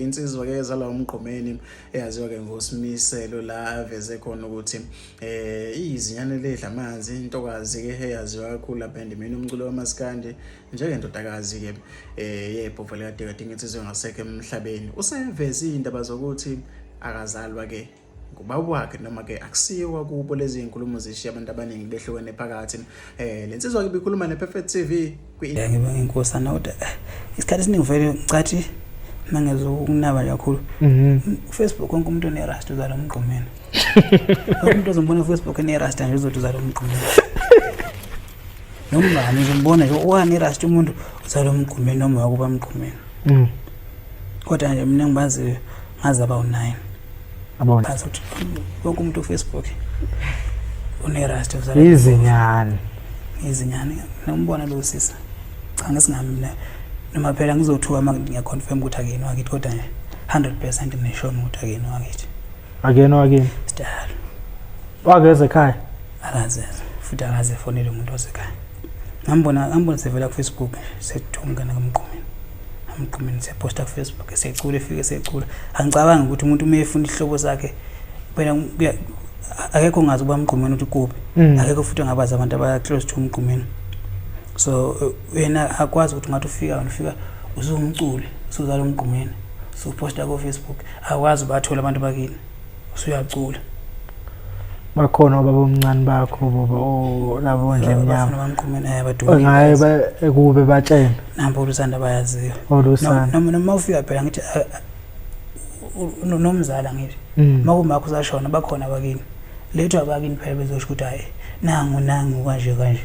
insizwa ke zala umgqomeni eyaziwa ke ngosimiselo la aveze khona ukuthi eh izinyane ledla amanzi intokazi ke eyaziwa kakhulu lapha endimeni umculo wamaskandi njengendodakazi ke eh yebhova likadekade ngensizwe ngasekho emhlabeni useveze indaba zokuthi akazalwa ke ngubaba wakhe noma ke akusiyo kwakubo lezi nkulumo zishiya abantu abaningi behlukene phakathi eh lensizwa ke bikhuluma ne Perfect TV kwi Ngibonga inkosi anawuda eh, isikhathi esiningi vele ngicathi mangezokunaba kakhulu mhm. Facebook konke umuntu ne rasta uzala umgqomeni umuntu ozombona Facebook ne rasta nje uzothi uzala umgqomeni noma ngizombona nje wani rasta umuntu uzala umgqomeni noma wakuba umgqomeni mhm. kodwa nje mina ngibazi ngaze aba u9 abona azothi wonke umuntu ufacebook unerasta izinyane izinyane nombona lo sisa cha ngesingami mina noma phela ngizothuka uma ngiyaconfirm ukuthi akuyini wakithi kodwa nje 100 percent ngisho ukuthi akuyini wakithi akuyena wakini sidala wakeze ekhaya akazeze futhi akaze efonele umuntu osekhaya ngambona ngambona sevela ku Facebook sethunga nakamqumeni amqumeni seposta ku Facebook secula efike secula angicabangi ukuthi umuntu uma efuna ihlobo zakhe phela akekho ngazi ukuba mqumeni uthi kuphi mm. akekho futhi angabazi abantu abaya close to umqumeni so yena akwazi ukuthi ngathi ufika wena ufika usungumculi usuzala umqumeni usuposta ku Facebook akwazi ubathola abantu bakini usuyacula bakhona obaba omncane bakho baba o labo ndle mnyama bamqhumene eh, abadumile ngaye ba ekube batshena nampo lusanda bayaziyo olusanda oh, noma noma ufika phela ngithi ah, ah, nomzala ngithi mm. makumakho usashona bakhona bakini lethu abakini phela bezosho ukuthi hayi nangu nangu kanje kanje